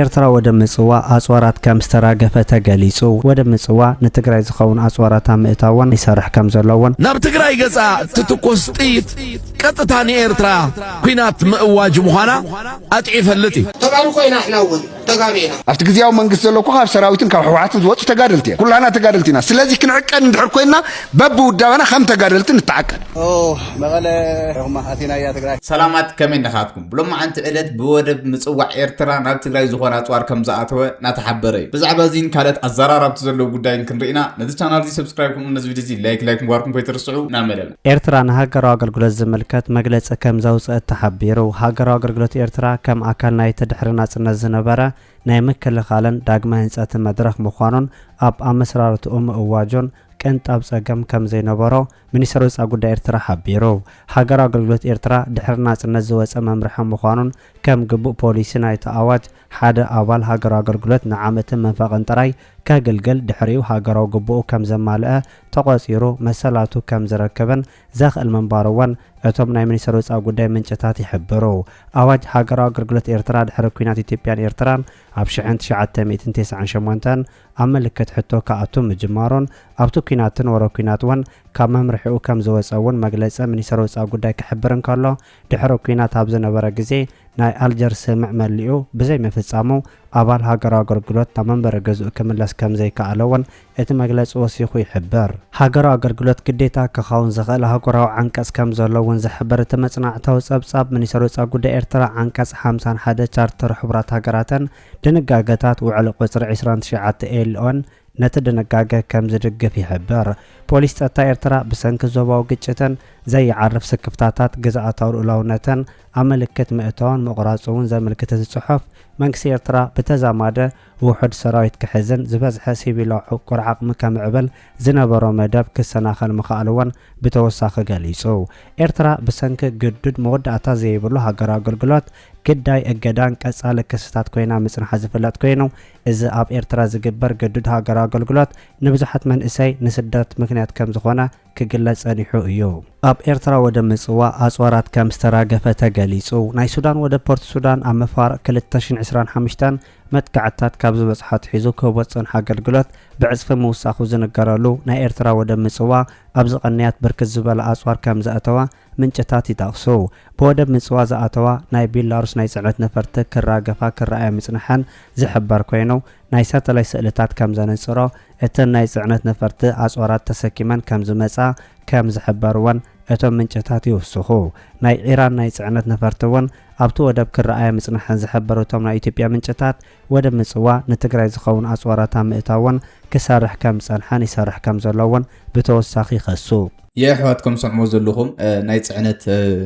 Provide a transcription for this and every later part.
ኤርትራ ወደብ ምጽዋዕ ኣጽዋራት ከም ዝተራገፈ ተገሊጹ። ወደብ ምጽዋዕ ንትግራይ ዝኸውን ኣጽዋራት ኣብ ምእታውን ይሰርሕ ከም ዘሎ እውን። ናብ ትግራይ ገጻ እትትኮስ ጥይት ቀጥታ ንኤርትራ ኲናት ምእዋጅ ምዃና ኣጥዕዩ ይፈልጥ እዩ። ተጋሩ ኮይና ኣሕና እውን ተጋሩ ኢና። ኣብቲ ግዝያዊ መንግስቲ ዘሎ እኮ ካብ ሰራዊትን ካብ ህወሓትን ዝወጹ ተጋደልቲ እዮም። ኩላህና ተጋደልቲ ኢና። ስለዚ ክንዕቀን እንድሕር ኮይንና በብውዳበና ከም ተጋደልቲ ንተዓቀን። ኦህ መቐለ ርሕኹማ ኣቲናያ ትግራይ። ሰላማት ከመይ እንዲኻትኩም። ብሎማዓንቲ ዕለት ብወደብ ምጽዋዕ ኤርትራ ናብ ትግራይ ዝኾነ ኣጽዋር ከምዝኣተወ ናተሓበረ እዩ። ብዛዕባ እዚን ካልኦት ኣዘራራብቲ ዘለዉ ጉዳይን ክንርኢና ነዚ ቻናል እዚ ሰብስክራይብ ከምኡ ውን ነዚ ቪድዮ እዚ ላይክ ላይክ ምግባርኩም ከይትርስዑ ናመደብ። ኤርትራ ንሃገራዊ ኣገልግሎት ዝምልከት መግለጺ ከም ዘውጸእት ተሓቢሩ። ሃገራዊ ኣገልግሎት ኤርትራ ከም ኣካል ናይቲ ድሕሪ ናጽነት ዝነበረ ናይ ምክልኻልን ዳግመ ህንጸትን መድረኽ ምዃኑን ኣብ ኣመስራርትኡ ምእዋጁን፣ ቅንጣብ ጸገም ከም ዘይነበሮ ሚኒስተር ወጻኢ ጉዳይ ኤርትራ ሓቢሩ። ሃገራዊ ኣገልግሎት ኤርትራ ድሕሪ ናጽነት ዝወጸ መምርሒ ምዃኑን ከም ግቡእ ፖሊሲ ናይቲ ኣዋጅ ሓደ ኣባል ሃገራዊ ኣገልግሎት ንዓመትን መንፈቕን ጥራይ ከግልግል ድሕሪኡ ሃገራዊ ግቡኡ ከም ዘማልኣ ተቖጺሩ መሰላቱ ከም ዝረክብን ዘኽእል ምንባሩ'ውን እቶም ናይ ሚኒስተር ወጻኢ ጉዳይ ምንጭታት ይሕብሩ። ኣዋጅ ሃገራዊ ኣገልግሎት ኤርትራ ድሕሪ ኲናት ኢትዮጵያን ኤርትራን ኣብ ሽሕን ትሽዓተ ሚእትን ቴስዓን ሸሞንተን ኣብ ምልክት ሕቶ ክኣቱ ምጅማሩን ኣብቲ ኲናትን ወረ ኲናት እውን ካብ መምርሒኡ ከም ዝወጸ እውን መግለጺ ሚኒስተር ወጻኢ ጉዳይ ክሕብር እንከሎ ድሕሪ ኲናት ኣብ ዝነበረ ግዜ ናይ ኣልጀርስ ስምምዕ መሊኡ ብዘይ ምፍጻሙ ኣባል ሃገራዊ ኣገልግሎት ናብ መንበሪ ገዝኡ ክምለስ ከም ዘይከኣለ እውን እቲ መግለጺ ወሲኹ ይሕብር። ሃገራዊ ኣገልግሎት ግዴታ ክኸውን ዝኽእል ኣህጉራዊ ዓንቀጽ ከም ዘሎ እውን ዝሕብር እቲ መጽናዕታዊ ጸብጻብ ሚኒስተር ወጻኢ ጉዳይ ኤርትራ ዓንቀጽ ሓምሳን ሓደ ቻርተር ሕቡራት ሃገራትን ድንጋገታት ውዕል ቁጽሪ ዕስራን ትሽዓተ ኤልኦን ነቲ ድንጋገ ከም ዝድግፍ ይሕብር። ፖሊስ ጸጥታ ኤርትራ ብሰንኪ ዞባዊ ግጭትን ዘይዓርፍ ስክፍታታት ግዝኣታዊ ልኡላውነትን ኣብ ምልክት ምእታውን ምቑራጹ'ውን ዘምልክት እዚ ጽሑፍ፣ መንግስቲ ኤርትራ ብተዛማዲ ውሑድ ሰራዊት ክሕዝን ዝበዝሐ ሲቪላዊ ዕቁር ዓቕሚ ከምዕብል ዝነበሮ መደብ ክሰናኸል ምኽኣሉ'ውን ብተወሳኺ ገሊጹ። ኤርትራ ብሰንኪ ግዱድ መወዳእታ ዘይብሉ ሃገራዊ ኣገልግሎት፣ ግዳይ እገዳን ቀጻሊ ክስታት ኮይና ምጽንሓ ዝፍለጥ ኮይኑ፣ እዚ ኣብ ኤርትራ ዝግበር ግዱድ ሃገራዊ ኣገልግሎት ንብዙሓት መንእሰይ ንስደት ምክንያት ከም ዝኾነ ክግለጽ ጸኒሑ እዩ። ኣብ ኤርትራ ወደብ ምጽዋዕ ኣጽዋራት ከም ዝተራገፈ ተገሊጹ። ናይ ሱዳን ወደብ ፖርት ሱዳን ኣብ መፋርቕ ክልተ ሽሕን ዕስራን ሓሙሽተን መጥቃዕትታት ካብ ዝበጽሖ ኣትሒዙ ክህቦ ዝጸንሖ ኣገልግሎት ብዕጽፊ ምውሳኹ ዝንገረሉ ናይ ኤርትራ ወደብ ምጽዋዕ ኣብዚ ቅንያት ብርክት ዝበለ ኣጽዋር ከም ዘእተወ ምንጭታት ይጠቕሱ። ብወደብ ምጽዋ ዝኣተዋ ናይ ቤላሩስ ናይ ጽዕነት ነፈርቲ ክራገፋ ክረኣያ ምጽንሐን ዝሕበር ኮይኑ፣ ናይ ሳተላይት ስእልታት ከም ዘነጽሮ እተን ናይ ጽዕነት ነፈርቲ ኣጽዋራት ተሰኪመን ከም ዝመጻ ከም ዝሕበርወን እቶም ምንጭታት ይውስኹ። ናይ ኢራን ናይ ጽዕነት ነፈርቲ'ውን ኣብቲ ወደብ ክረኣያ ምጽንሐን ዝሕበሩ እቶም ናይ ኢትዮጵያ ምንጭታት፣ ወደብ ምጽዋ ንትግራይ ዝኸውን ኣጽዋራት ኣብ ምእታውን ክሰርሕ ከም ዝጸንሐን ይሰርሕ ከም ዘሎ'ውን ብተወሳኺ ይኸሱ። የሕዋትኩም ስዕሞ ዘሉኹም ናይ ጽዕነት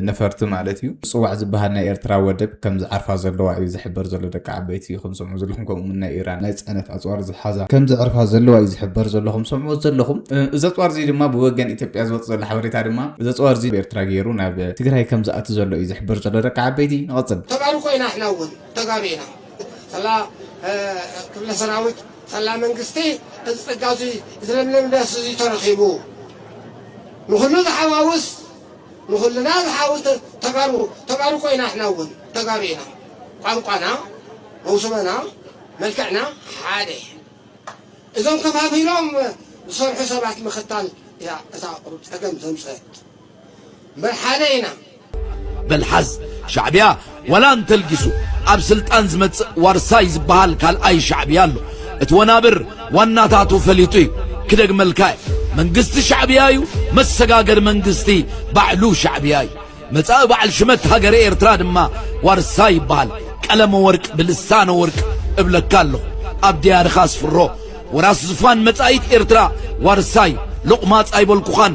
ነፈርቲ ማለት እዩ ምጽዋዕ ዝባሃል ናይ ኤርትራ ወደብ ከም ዝዓርፋ ዘለዋ እዩ ዝሕበር ዘሎ ደቂ ዓበይቲ ኢኹም ስዕሞ ዘሉኹም ከምኡ ውን ናይ ኢራን ናይ ጽዕነት ኣጽዋር ዝሓዛ ከም ዝዕርፋ ዘለዋ እዩ ዝሕበር ዘሎ ኹም ስዕሞ ዘሉኹም እዚ ኣጽዋር እዚ ድማ ብወገን ኢትዮጵያ ዝወጽእ ዘሎ ሓበሬታ ድማ እዚ ኣጽዋር እዚ ብኤርትራ ጌሩ ናብ ትግራይ ከም ዝኣቲ ዘሎ እዩ ዝሕበር ዘሎ ደቂ ዓበይቲ ንቐጽል። ተጋሩ ኮይና ሕና ውን ተጋሩ ኢና ሰላ ክፍለ ሰራዊት ሰላ መንግስቲ እዚ ጸጋ እዙይ ዝለምለም ዳስ እዙይ ተረኺቡ ንኹሉ ዝሓዋውስ ንኹልና ዝሓውስ ተጋሩ ተጋሩ ኮይና ሕና እውን ተጋሩ ኢና ቋንቋና መውስበና መልክዕና ሓደ እዞም ከፋፊሎም ዝሰርሑ ሰባት ምኽታል እያ እታ ቁሩብ ጸገም ዘምጽአት ምርሓደ ኢና። በል ሓዝ ሻዕቢያ ዋላ እንተልጊሱ ኣብ ስልጣን ዝመጽእ ዋርሳይ ዝበሃል ካልኣይ ሻዕቢያ ኣሎ። እቲ ወናብር ዋናታቱ ፈሊጡ እዩ። ክደግመልካ እየ መንግስቲ ሻዕቢያ እዩ፣ መሰጋገሪ መንግስቲ ባዕሉ ሻዕቢያ እዩ። መጻኢ በዓል ሽመት ሃገረ ኤርትራ ድማ ዋርሳይ ይበሃል። ቀለመ ወርቅ ብልሳነ ወርቅ እብለካ ኣለኹ ኣብ ድያርኻ ኣስፍሮ ወራስ ዝፋን መጻኢት ኤርትራ ዋርሳይ ሎቕማጽ ኣይበልኩኻን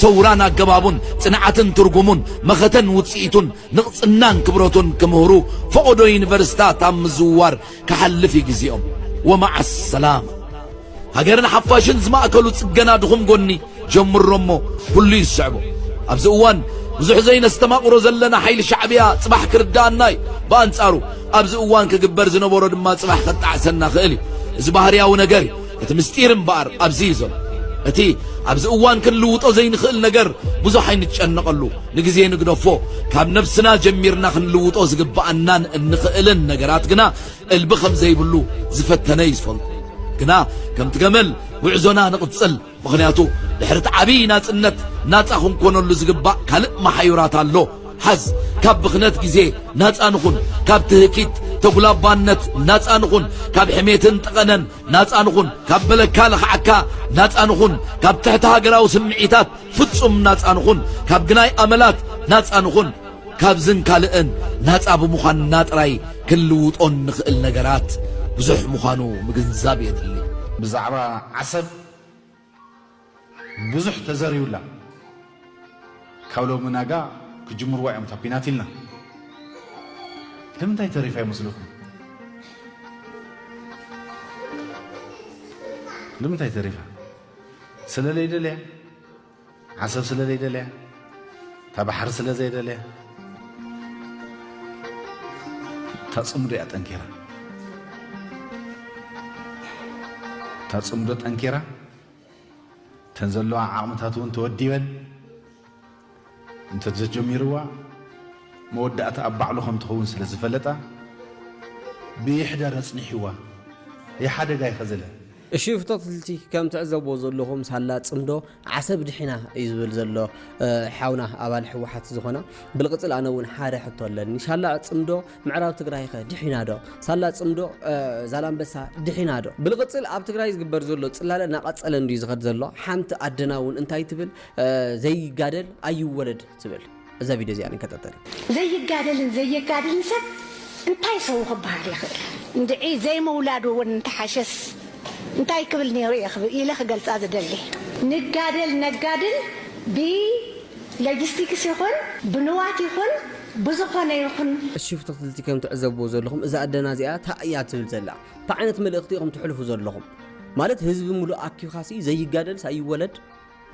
ሰውራን ኣገባቡን፣ ጽንዓትን ትርጉሙን፣ መኸተን ውጽኢቱን፣ ንቕጽናን ክብረቱን ክምህሩ ፈቖዶ ዩኒቨርሲታት ኣብ ምዝውዋር ክሓልፍ እዩ ግዜኦም። ወመዓሰላማ። ሃገርን ሓፋሽን ዝማእከሉ ጽገና ድኹም ጎኒ ጀምሮ እሞ ኩሉ ይስዕቦ። ኣብዚ እዋን ብዙሕ ዘይነስተማቕሮ ዘለና ሓይሊ ሻዕብያ ጽባሕ ክርድኣና እዩ። ብኣንጻሩ ኣብዚ እዋን ክግበር ዝነበሮ ድማ ጽባሕ ከጣዕሰና ክእል እዩ። እዚ ባህርያዊ ነገር እዩ። እቲ ምስጢር እምበኣር ኣብዚ እዩ ዘሎ። እቲ ኣብዚ እዋን ክንልውጦ ዘይንኽእል ነገር ብዙሕ ኣይንጨነቐሉ። ንግዜ ንግደፎ። ካብ ነብስና ጀሚርና ክንልውጦ ዝግብኣናን እንኽእልን ነገራት ግና እልቢ ከም ዘይብሉ ዝፈተነ እዩ ዝፈልጦ። ግና ከምቲ ገመል ጉዕዞና ንቕጽል። ምኽንያቱ ድሕሪ እቲ ዓብዪ ናጽነት ናጻ ክንኮነሉ ዝግባእ ካልእ መሓዩራት ኣሎ። ሓዝ ካብ ብኽነት ግዜ ናጻ ንኹን፣ ካብ ትህኪት ተጉላባነት ናጻ ንኹን፣ ካብ ሕሜትን ጠቐነን ናጻ ንኹን ካብ በለካ ለኽዓካ ናጻ ንኹን ካብ ትሕቲ ሃገራዊ ስምዒታት ፍጹም ናጻ ንኹን ካብ ግናይ ኣመላት ናጻ ንኹን ካብዝን ካልእን ናጻ ብምዃንና ጥራይ ክንልውጦ እንኽእል ነገራት ብዙሕ ምዃኑ ምግንዛብ የድሊ። ብዛዕባ ዓሰብ ብዙሕ ተዘርዩላ ካብ ሎሚ ናጋ ክጅምርዋ እዮም እታ ኩናት ኢልና ንምንታይ ተሪፋ ይመስለኩም? ንምንታይ ተሪፋ ስለለይደልያ ዓሰብ ስለ ዘይደልያ እታ ባሕሪ ስለ ዘይደልያ እታ ፅምዶ እያ ጠንኪራ እታ ፅምዶ ጠንኪራ እተን ዘለዋ ዓቕምታት እውን ተወዲበን እንተዘጀሚርዋ መወዳእታ ኣብ ባዕሉ ከም ትኸውን ስለ ዝፈለጣ ብይሕደር ኣፅኒሕዋ ይሓደጋ ይኸዘለ እሺ ፍተትልቲ ከም ትዕዘብዎ ዘለኹም ሳላ ጽምዶ ዓሰብ ድሒና እዩ ዝብል ዘሎ ሓውና ኣባል ሕወሓት ዝኾና ብልቅጽል ኣነ እውን ሓደ ሕቶ ኣለኒ ሳላ ጽምዶ ምዕራብ ትግራይ ከ ድሒና ዶ ሳላ ጽምዶ ዛላምበሳ ድሒና ዶ ብልቅጽል ኣብ ትግራይ ዝግበር ዘሎ ጽላለ እናቀጸለ እንድዩ ዝኸድ ዘሎ ሓንቲ ኣደና እውን እንታይ ትብል ዘይጋደል ኣይወለድ ትብል እዛ ቪድዮ እዚኣ ንከታተል። ዘይጋደልን ዘየጋድልን ሰብ እንታይ ሰው ክበሃል ይኽእል? እንድዒ ዘይምውላዱ እውን እንተሓሸስ እንታይ ክብል ነይሩ እየ ኢለ ክገልፃ ዝደሊ። ንጋደል ነጋድል ብለጅስቲክስ ይኹን ብንዋት ይኹን ብዝኾነ ይኹን። እሺ ፍትክትልቲ ከም ትዕዘብዎ ዘለኹም እዛ ኣደና እዚኣ ታይ እያ ትብል ዘላ ታይ ዓይነት መልእኽቲ ኢኹም ተሕልፉ ዘለኹም ማለት ህዝቢ ሙሉእ ኣኪብካሲ ዘይጋደልስ ኣይወለድ።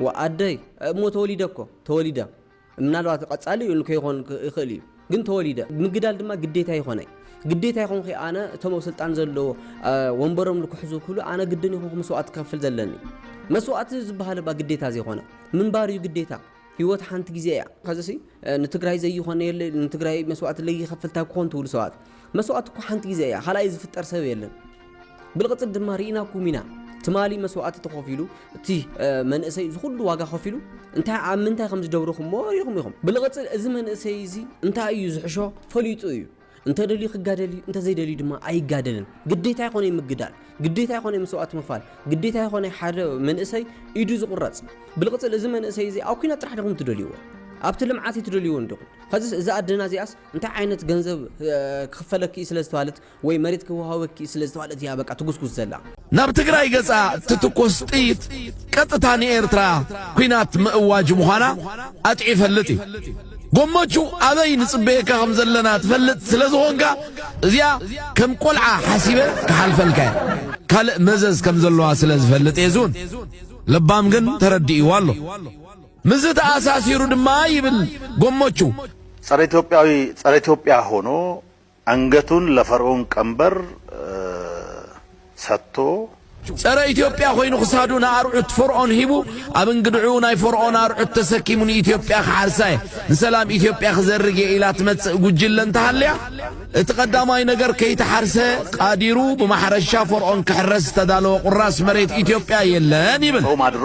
ዋእ ኣደይ እሞ ተወሊደ እኮ ተወሊደ ምናልባት ቐጻሊ ን ከይኾን ይኽእል እዩ ግን ተወሊደ ምግዳል ድማ ግዴታ ይኾነይ ግዴታ ይኾንኺ ኣነ እቶም ኣብ ስልጣን ዘለዎ ወንበሮም ልክሕዙ ክሉ ኣነ ግድን ይኾንኩ መስዋእቲ ክኸፍል ዘለኒ መስዋእቲ ዝበሃል እባ ግዴታ ዘይኾነ ምንባር እዩ ግዴታ ህይወት ሓንቲ ግዜ እያ ከዚሲ ንትግራይ ዘይኾነ የለ ንትግራይ መስዋእቲ ለይኸፍልታ ክኾን ትብሉ ሰባት መስዋእቲ እኮ ሓንቲ ግዜ እያ ካልኣይ ዝፍጠር ሰብ የለን ብልቕፅት ድማ ርኢናኩም ኢና ትማሊ መስዋእቲ ተኸፊሉ እቲ መንእሰይ ዝኩሉ ዋጋ ከፊሉ እንታይ ኣብ ምንታይ ከም ዝደብርኹምዎ ሪኹም ኢኹም ብልቕፅል እዚ መንእሰይ እዚ እንታይ እዩ ዝሕሾ ፈሊጡ እዩ እንተደልዩ ክጋደል እዩ እንተዘይደልዩ ድማ ኣይጋደልን ግዴታ ይኾነ ምግዳል ግዴታ ይኾነ መስዋእቲ ምኽፋል ግዴታ ይኾነ ሓደ መንእሰይ ኢዱ ዝቑረፅ ብልቕፅል እዚ መንእሰይ እዚ ኣብ ኩናት ጥራሕ ዲኹም ትደልይዎ ኣብቲ ልምዓት ትደልይዎ እንዲኹም ከዚ እዚ ኣደና እዚኣስ እንታይ ዓይነት ገንዘብ ክኽፈለኪ እዩ ስለ ዝተባህለት ወይ መሬት ክወሃበኪ እዩ ስለ ዝተባህለት እያ በቃ ትጉስጉስ ዘላ። ናብ ትግራይ ገጻ እትትኩስ ጥይት ቀጥታ ንኤርትራ ኩናት ምእዋጅ ምዃና ኣጥዒ ይፈልጥ እዩ። ጎሞቹ ኣበይ ንጽበየካ ከም ዘለና ትፈልጥ ስለ ዝኾንካ እዚኣ ከም ቆልዓ ሓሲበ ክሓልፈልካ እየ። ካልእ መዘዝ ከም ዘለዋ ስለ ዝፈልጥ እየ ዝውን። ለባም ግን ተረዲእዋ ኣሎ። ምስዚ ተኣሳሲሩ ድማ ይብል ጎሞቹ። ጸረ ኢትዮጵያዊ ጸረ ኢትዮጵያ ሆኖ ኣንገቱን ለፈርኡን ቀንበር ሰጥቶ፣ ጸረ ኢትዮጵያ ኮይኑ ክሳዱ ንኣርዑት ፎርኦን ሂቡ ኣብ እንግድዕኡ ናይ ፎርኦን ኣርዑት ተሰኪሙ ንኢትዮጵያ ክሓርሳ እየ ንሰላም ኢትዮጵያ ክዘርግ እየ ኢላ ትመጽእ ጉጅለ እንተሃልያ እቲ ቀዳማይ ነገር ከይተሓርሰ ቃዲሩ ብማሕረሻ ፎርኦን ክሕረስ ዝተዳለወ ቁራስ መሬት ኢትዮጵያ የለን ይብል። ጾም ኣድሮ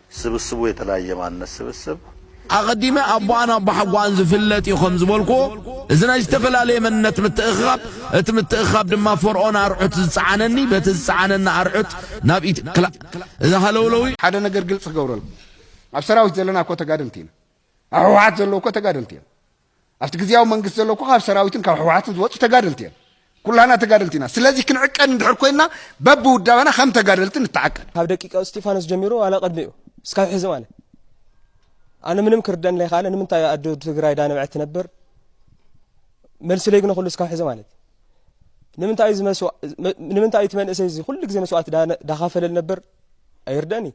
ስብስቡ የተለያየ ማንነት ስብስብ። ኣቐዲመ ኣቦኣን ኣቦሓጎኣን ዝፍለጥ እዩ ከም ዝበልኩዎ፣ እዚ ናይ ዝተፈላለየ መንነት ምትእኽኻብ፣ እቲ ምትእኽኻብ ድማ ፈርኦን ኣርዑት ዝጸዓነኒ በቲ ዝጸዓነኒ ኣርዑት ናብ ኢትዮ ክላ እዚ ሃለውለው እዩ። ሓደ ነገር ግልጺ ክገብረልኩም፣ ኣብ ሰራዊት ዘለና እኮ ተጋደልቲ ኢና። ኣብ ህወሓት ዘለዉ እኮ ተጋደልቲ እዮም። ኣብቲ ግዝያዊ መንግስቲ ዘሎ እኮ ካብ ሰራዊትን ካብ ሕወሓትን ዝወፁ ተጋደልቲ እዮም። ኩላና ተጋደልቲ ኢና። ስለዚ ክንዕቀን እንድሕር ኮይንና በብውዳበና ከም ተጋደልቲ ንተዓቀን። ካብ ደቂቀ እስጢፋኖስ ጀሚሩ ዋላ ቅድሚኡ እስካብ ሕዚ ማለት ኣነ ምንም ክርደን ለይካለ ንምንታይ ኣዶ ትግራይ ዳነብዐት ትነብር መልሲ ለይግነ ኩሉ እስካብ ሕዚ ማለት ንምንታይ እዩ እቲ መንእሰይ እዚ ኩሉ ግዜ መስዋእቲ ዳኸፈለ ነብር ኣይርደን እዩ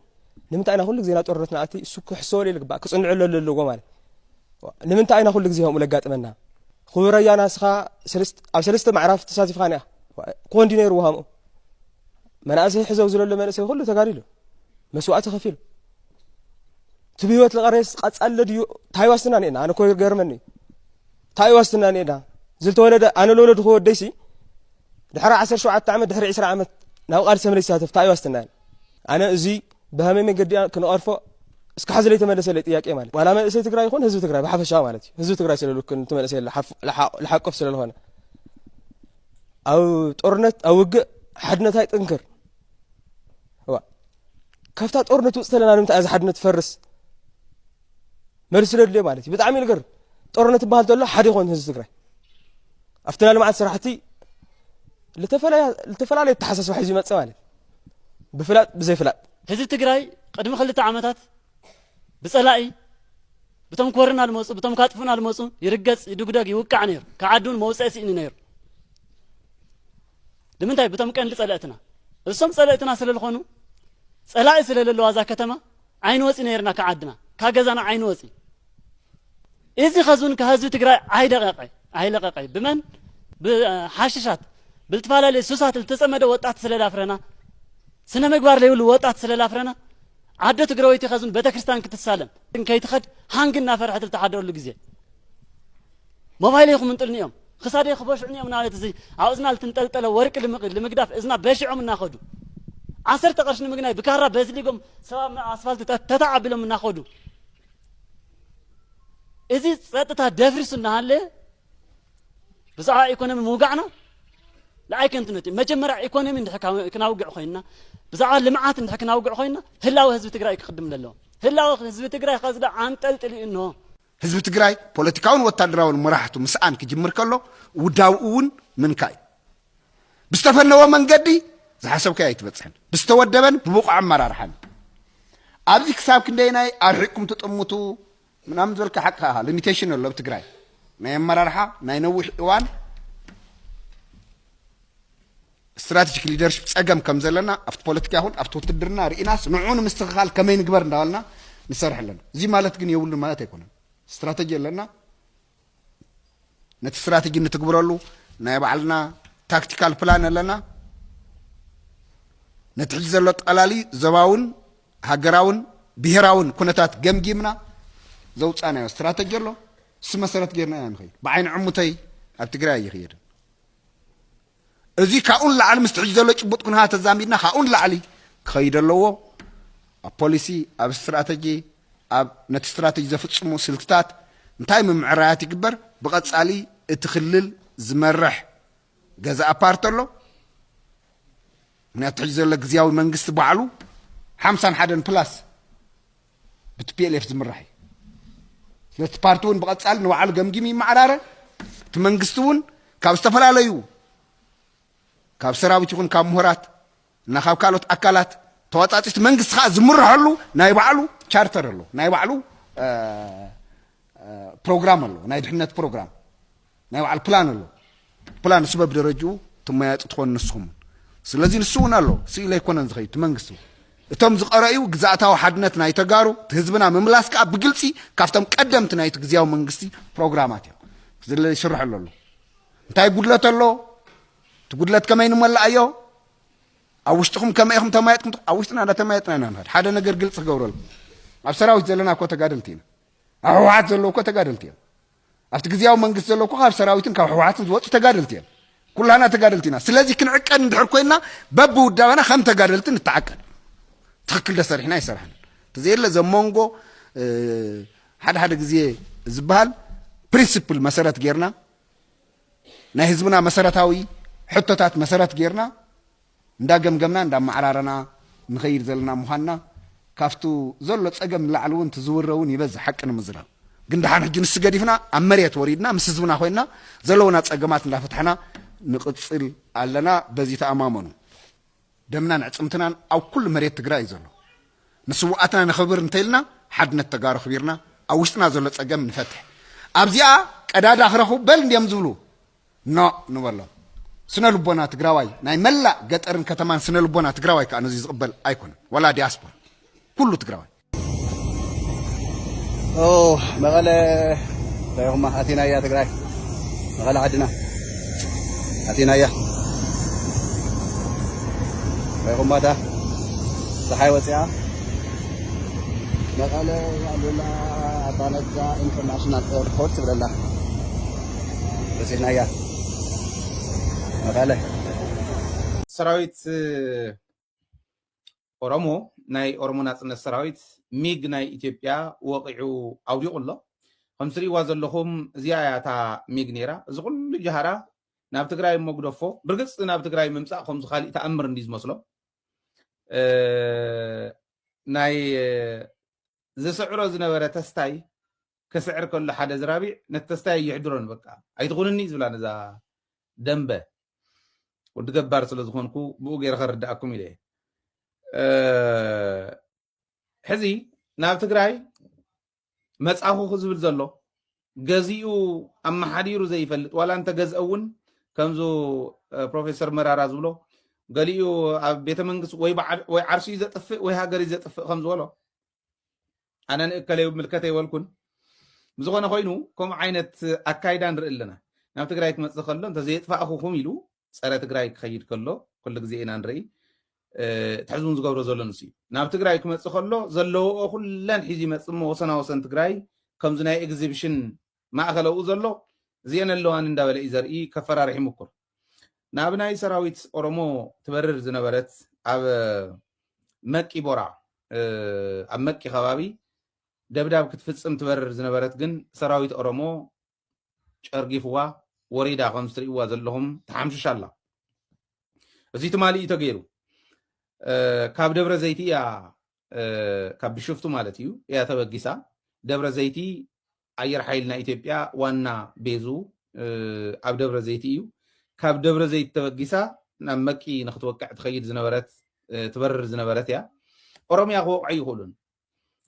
ንምንታይ ኢና ኩሉ ግዜ ናብ ጦርነት ንኣቲ እሱ ክሕሰበሉ ይግባእ ክፅንዕሉ ኣለዎ ማለት ንምንታይ ኢና ኩሉ ግዜ ከምኡ ለጋጥመና ክቡር ኣያና እስኻ ኣብ ሰለስተ ማዕራፍ ተሳቲፍካ ኒኣ ክኾን ድዩ ነይሩ ውሃምኡ መናእሰይ ሕዘው ዝለሎ መንእሰይ ኩሉ ተጋዲሉ መስዋእቲ ከፊሉ እቲ ብህይወት ዝቐረየስ ቀፃለ ድዩ እንታይ ዋስትና ኒኤና ኣነ ኮ ገርመኒ እዩ እንታይ ዋስትና ኒኤና ዝተወለደ ኣነ ለወለዱ ክወደይሲ ድሕሪ ዓሰርተ ሸውዓተ ዓመት ድሕሪ ዕስራ ዓመት ናብ ቃልሲ ተመለስ ይሳተፍ እንታይ ዋስትና ኣነ እዚ ብሀመይ መንገዲ ክንቐርፎ እስካሕ ዝለይተመለሰለይ ጥያቄ ማለት ዋላ መንእሰይ ትግራይ ይኹን ህዝቢ ትግራይ ብሓፈሻ ማለት እዩ ህዝቢ ትግራይ ስለልክን እቲ መንእሰይ ልሓቁፍ ስለልኾነ ኣብ ጦርነት ኣብ ውግእ ሓድነት ኣይጥንክር እዋ ካብታ ጦርነት ውፅእ ተለና ንምንታይ እዚ ሓድነት ፈርስ መልሲ ስለድልዮ ማለት እዩ ብጣዕሚ ልገር ጦርነት ይበሃል ተሎ ሓደ ይኾን ህዝቢ ትግራይ ኣብቲ ናይ ልምዓት ስራሕቲ ልተፈላለየ ተሓሳስባ ሒዙ ይመፅእ ማለት እዩ ብፍላጥ ብዘይፍላጥ ህዝቢ ትግራይ ቅድሚ ክልተ ዓመታት ብፀላኢ ብቶም ኮርና ልመፁ ብቶም ካጥፉና ልመፁ ይርገፅ ይድጉደግ ይውቃዕ ነይሩ ከዓዱን መውፅዒ ስኢኑ ነይሩ ንምንታይ ብቶም ቀንዲ ፀለእትና እሶም ፀለእትና ስለዝኾኑ ፀላኢ ስለለለዋ እዛ ከተማ ኣይንወፂ ነይርና ካብ ዓድና ካብ ገዛና ኣይንወፂ እዚ ከዝውን ከህዝቢ ትግራይ ኣይደቀቀ ኣይለቀቀ ብመን ብሓሽሻት ብልትፈላለየ ሱሳት ዝተፀመደ ወጣት ስለዳፍረና ስነ ምግባር ዘይብሉ ወጣት ስለላፍረና ዓዶ ትግራወይቲ ከዝን ቤተክርስትያን ክትሳለም ከይትኸድ ሃንግ እናፈርሐት ዝተሓደረሉ ግዜ ሞባይል ይኹም እንጥልኒ እዮም ኽሳደይ ኽበሽዑኒ እዮም እናበለት እዚ ኣብ እዝና ልትንጠልጠለ ወርቂ ልምግዳፍ እዝና በሺዖም እናኸዱ ዓሰርተ ቐርሽ ንምግናይ ብካራ በዝሊጎም ሰባ ኣስፋልቲ ተታ ኣቢሎም እናኸዱ እዚ ፀጥታ ደፍሪሱ እናሃለ ብዛዕባ ኢኮኖሚ ምውጋዕና ንኣይ ከንትነት እዩ መጀመርያ ኢኮኖሚ እንድሕ ክናውግዕ ኮይንና ብዛዕባ ልምዓት እንድሕ ክናውግዕ ኮይንና ህላወ ህዝቢ ትግራይ ክቅድም ኣለዎ ህላወ ህዝቢ ትግራይ ከዚ ዶ ኣንጠልጥሊ እንሆ ህዝቢ ትግራይ ፖለቲካውን ወታደራውን መራሕቱ ምስኣን ክጅምር ከሎ ውዳብኡ እውን ምንካእ እዩ። ብዝተፈነወ መንገዲ ዝሓሰብካዮ ኣይትበፅሕን። ብዝተወደበን ብብቑዕ ኣመራርሓን እዩ። ኣብዚ ክሳብ ክንደይናይ ኣርሒቕኩም ትጥምቱ ምናምን ዝበልካ ሓቂ ከኣ ሊሚቴሽን ኣሎ ኣብ ትግራይ ናይ ኣመራርሓ ናይ ነዊሕ እዋን ስትራተጂክ ሊደርሺፕ ጸገም ከም ዘለና ኣብቲ ፖለቲካ ይኹን ኣብቲ ውትድርና ርኢናስ ንዕኡ ንምስትኽኻል ከመይ ንግበር እንዳበልና ንሰርሕ ኣለና። እዚ ማለት ግን የብሉን ማለት ኣይኮነን። ስትራተጂ ኣለና ነቲ ስትራተጂ ንትግብረሉ ናይ ባዕልና ታክቲካል ፕላን ኣለና። ነቲ ሕጂ ዘሎ ጠላሊ ዞባውን ሃገራውን ብሄራውን ኩነታት ገምጊምና ዘውፃናዮ ስትራተጂ ኣሎ። እሱ መሰረት ጌርና ኢና ንኸይድ። ብዓይኒ ዕሙተይ ኣብ ትግራይ ኣይኽየድን። እዚ ካብኡ ንላዕሊ ምስቲ ሕጂ ዘሎ ጭቡጥ ኩነታት ተዛሚድና ካብኡ ንላዕሊ ክኸይድ ኣለዎ። ኣብ ፖሊሲ፣ ኣብ ስትራተጂ፣ ኣብ ነቲ ስትራተጂ ዘፍጽሙ ስልትታት እንታይ ምምዕራያት ይግበር? ብቐጻሊ እቲ ክልል ዝመርሕ ገዛኢ ፓርቲ ኣሎ። ምክንያቱ ሕጂ ዘሎ ግዝያዊ መንግስቲ ባዕሉ ሓምሳን ሓደን ፕላስ ብቲፒኤልኤፍ ዝምራሕ እዩ። ስለዚ እቲ ፓርቲ እውን ብቐጻሊ ንባዕሉ ገምጊሙ ይመዓራረ፣ እቲ መንግስቲ እውን ካብ ዝተፈላለዩ ካብ ሰራዊት ይኹን ካብ ምሁራት እና ካብ ካልኦት ኣካላት ተዋጻጺ እቲ መንግስቲ ከዓ ዝምርሐሉ ናይ ባዕሉ ቻርተር ኣሎ፣ ናይ ባዕሉ ፕሮግራም ኣሎ፣ ናይ ድሕነት ፕሮግራም ናይ ባዕሉ ፕላን ኣሎ ፕላን ንሱ በብደረጅኡ ትመያየጡ ትኾኑ ንስኹም እውን ስለዚ ንሱ እውን ኣሎ ስኢለ ኣይኮነን ዝኸይድ እቲ መንግስቲ እውን እቶም ዝቐረዩ ግዛእታዊ ሓድነት ናይ ተጋሩ እቲ ህዝብና ምምላስ ከዓ ብግልፂ ካብቶም ቀደምቲ ናይቲ ግዜያዊ መንግስቲ ፕሮግራማት እዮም ዝለ ይስርሐሉ ኣሎ እንታይ ጉድለት ኣሎ እቲ ጉድለት ከመይ ንመላእዮ ኣብ ውሽጥኹም ከመይ ኢኹም ተማየጥኩም ኣብ ውሽጥና እንዳተማየጥና ኢና ንኸድ ሓደ ነገር ግልፂ ክገብረልኩም ኣብ ሰራዊት ዘለና እኮ ተጋደልቲ ኢና ኣብ ህወሓት ዘለዉ እኮ ተጋደልቲ እዮም ኣብቲ ግዝያዊ መንግስቲ ዘሎ እኮ ካብ ሰራዊትን ካብ ሕወሓትን ዝወፁ ተጋደልቲ እዮም። ኩላና ተጋደልቲ ኢና። ስለዚ ክንዕቀድ እንድሕር ኮይና በብውዳበና ከም ተጋደልቲ ንተዓቀድ። ትኽክል ደሰሪሕና ይሰራሕን ተዘየለ ዘመንጎ ሓደ ሓደ ግዜ ዝበሃል ፕሪንስፕል መሰረት ጌርና ናይ ህዝብና መሰረታዊ ሕቶታት መሰረት ጌርና እንዳ ገምገምና እንዳ ኣማዓራረና ንኸይድ ዘለና ምዃንና ካፍቱ ዘሎ ጸገም ንላዕሊ ውን እቲ ዝውረ ውን ይበዝሕ ሓቂ ንምዝራብ ግን ድሓን ሕጂ ንሱ ገዲፍና ኣብ መሬት ወሪድና ምስ ህዝብና ኮይንና ዘለውና ጸገማት እንዳ ፈታሕና ንቕጽል ኣለና በዚ ተኣማመኑ ደምናን ኣዕጽምትናን ኣብ ኩሉ መሬት ትግራይ እዩ ዘሎ ንስውኣትና ነኽብር እንተኢልና ሓድነት ተጋሩ ኣኽቢርና ኣብ ውሽጥና ዘሎ ጸገም ንፈትሕ ኣብዚኣ ቀዳዳ ክረኽቡ በል እንድዮም ዝብሉ ኖእ ንበሎ። ስነ ልቦና ትግራዋይ ናይ መላእ ገጠርን ከተማን ስነ ልቦና ትግራዋይ ከኣ ነዙይ ዝቕበል ኣይኮነን ዋላ ዲያስፖራ ኩሉ ትግራዋይ። ኦው መቐለ እንታይ ኢኹማ ኣቲናያ ትግራይ መቐለ ዓድና ኣቲናያ እንታይ ኢኹማ እታ ፀሓይ ወፂኣ መቐለ ኣሉላ ኣባነጋ ኢንተርናሽናል ኤርፖርት ትብለላ በፂሕናያ መቐለ ሰራዊት ኦሮሞ ናይ ኦሮሞ ናፅነት ሰራዊት ሚግ ናይ ኢትዮጵያ ወቂዑ ኣውዲቑ ኣሎ ከም ትርእይዋ ዘለኹም እዚኣ እያ እታ ሚግ ነይራ እዚ ኩሉ ጃሃራ ናብ ትግራይ እሞ ግደፎ ብርግፅ ናብ ትግራይ ምምፃእ ከምዚ ካሊእ ተኣምር እንዲ ዝመስሎ ናይ ዝስዕሮ ዝነበረ ተስታይ ከስዕር ከሎ ሓደ ዝራቢዕ ነቲ ተስታይ ኣይሕድሮን በቃ ኣይትኹንኒ እዩ ዝብላ ነዛ ደንበ ወዲ ገባር ስለ ዝኾንኩ ብኡ ገይረ ከርድኣኩም ኢለ ሕዚ ናብ ትግራይ መጻኹ ዝብል ዘሎ ገዚኡ ኣመሓዲሩ ዘይፈልጥ ዋላ እንተገዝአ እውን ከምዚ ፕሮፌሰር መራራ ዝብሎ ገሊኡ ኣብ ቤተ መንግስቲ ወይ ዓርሱ እዩ ዘጥፍእ ወይ ሃገር እዩ ዘጥፍእ ከም ዝበሎ ኣነ ንእከለ ይምልከተ ይበልኩን ብዝኾነ ኮይኑ ከምኡ ዓይነት ኣካይዳ ንርኢ ኣለና ናብ ትግራይ ክመፅእ ከሎ እንተዘየጥፋእኹኹም ኢሉ ፀረ ትግራይ ክኸይድ ከሎ ኩሉ ግዜ ኢና ንርኢ እቲ ሕዝቡን ዝገብሮ ዘሎ ንስ እዩ ናብ ትግራይ ክመፅእ ከሎ ዘለዎኦ ኩለን ሒዙ ይመፅእ እሞ ወሰና ወሰን ትግራይ ከምዚ ናይ ኤግዚብሽን ማእኸለኡ ዘሎ እዚኤን ኣለዋኒ እንዳበለ እዩ ዘርኢ ከፈራርሕ ይምኩር ናብ ናይ ሰራዊት ኦሮሞ ትበርር ዝነበረት ኣብ መቂ ቦራ ኣብ መቂ ከባቢ ደብዳብ ክትፍፅም ትበርር ዝነበረት ግን ሰራዊት ኦሮሞ ጨርጊፍዋ ወሪዳ ከምዚ ትርእይዋ ዘለኹም ተሓምሽሽ ኣላ እዚ ትማሊ እዩ ተገይሩ ካብ ደብረ ዘይቲ እያ ካብ ብሽፍቱ ማለት እዩ እያ ተበጊሳ ደብረ ዘይቲ ኣየር ሓይልና ኢትዮጵያ ዋና ቤዙ ኣብ ደብረ ዘይቲ እዩ። ካብ ደብረ ዘይት ተበጊሳ ናብ መቂ ንክትወቅዕ ትኸይድ ዝነበረት ትበርር ዝነበረት እያ። ኦሮምያ ክወቕዑ ኣይኽእሉን።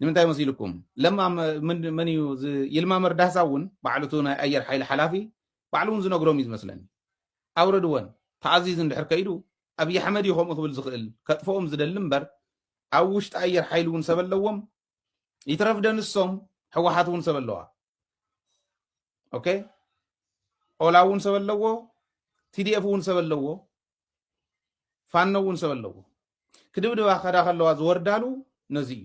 ንምንታይ መሲልኩም ለማ መን እዩ ይልማ መርዳሳ እውን ባዕሉ እቲ ናይ ኣየር ሓይሊ ሓላፊ ባዕሉ እውን ዝነግሮም እዩ ዝመስለኒ ኣውረድወን ተኣዚዙ እንድሕር ከይዱ ኣብዪ ኣሕመድ እዩ ከምኡ ክብል ዝኽእል ከጥፍኦም ዝደሊ እምበር ኣብ ውሽጢ ኣየር ሓይሊ እውን ሰብ ኣለዎም ይትረፍ ደንሶም ሕወሓት እውን ሰብ ኣለዋ ኦኬ ኦላ እውን ሰብ ኣለዎ ቲዲኤፍ እውን ሰብ ኣለዎ ፋኖ እውን ሰብ ኣለዎ ክድብድባ ከዳ ከለዋ ዝወርዳሉ ነዚ እዩ